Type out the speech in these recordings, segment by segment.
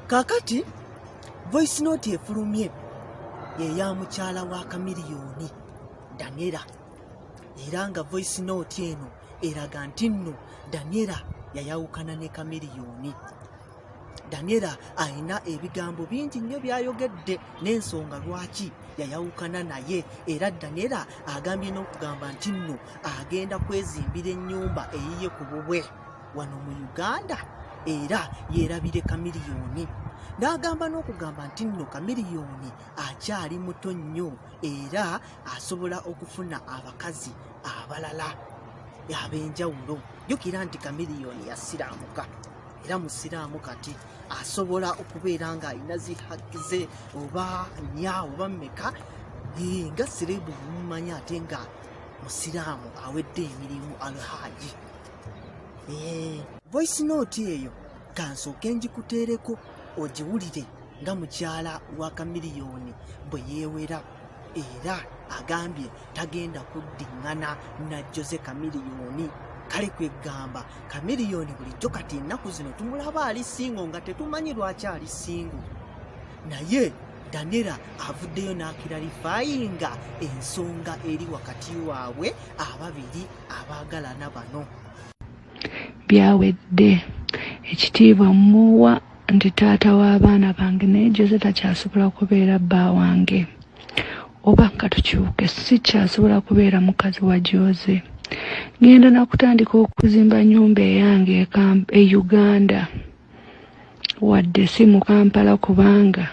kakati voice note efulumye yeya mukyala wa kamiliyoni danera era nga voice note eno eraga nti nno danera yayawukana ne kamiliyoni danera alina ebigambo bingi nnyo byayogedde n'ensonga lwaki yayawukana naye era danera agambye n'okugamba nti nno agenda kwezimbira ennyumba eyiye ku bubwe wano mu uganda era yerabire kamiliyoni n'agamba n'okugamba nti nno kamiliyoni akyali muto nnyo era asobola okufuna abakazi abalala ab'enjawulo jjukira nti kamiliyoni yasiraamuka era musiraamu kati asobola okubeera ng'alina zihaki ze oba nya oba mmeka nga sireebu mumumanya ate nga musiraamu awedde emirimu alhaaji Eh, voice note eyo kansooke njikuteereko ogiwulire nga mukyala wa kamiliyoni bwe yeewera era agambye tagenda kuddingana na jose kamiliyoni kale kwegamba kamiliyoni bulijjo kati ennaku zino tumulaba ali singo nga tetumanyi lwaki ali singo naye danera avuddeyo n'akiralifayinga ensonga eri wakati waabwe ababiri abaagalana bano byawedde ekitiibwa muwa nti taata w'abaana bange naye jose takyasobola kubeera bba wange oba katukyuke sikyasobola kubeera mukazi wa jose ngenda nakutandika okuzimba nyumba eyange e uganda wadde si mu kampala kubanga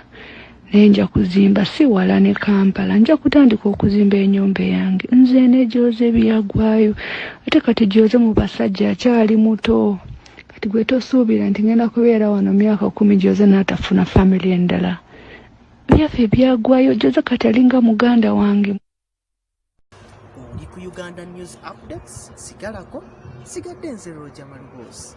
naye nja kuzimba si wala ne kampala nja kutandika okuzimba enyumba eyange nze negyoze byagwayo ate kati gyoze mu basajja akyali muto kati gwe tosuubira nti ngenda kubeera wano myaka kumi gyoze natafuna famiry endala byaffe byagwayo gyoze kati alinga muganda wange uganda news updates sigalako sigadde nze roja maluboozi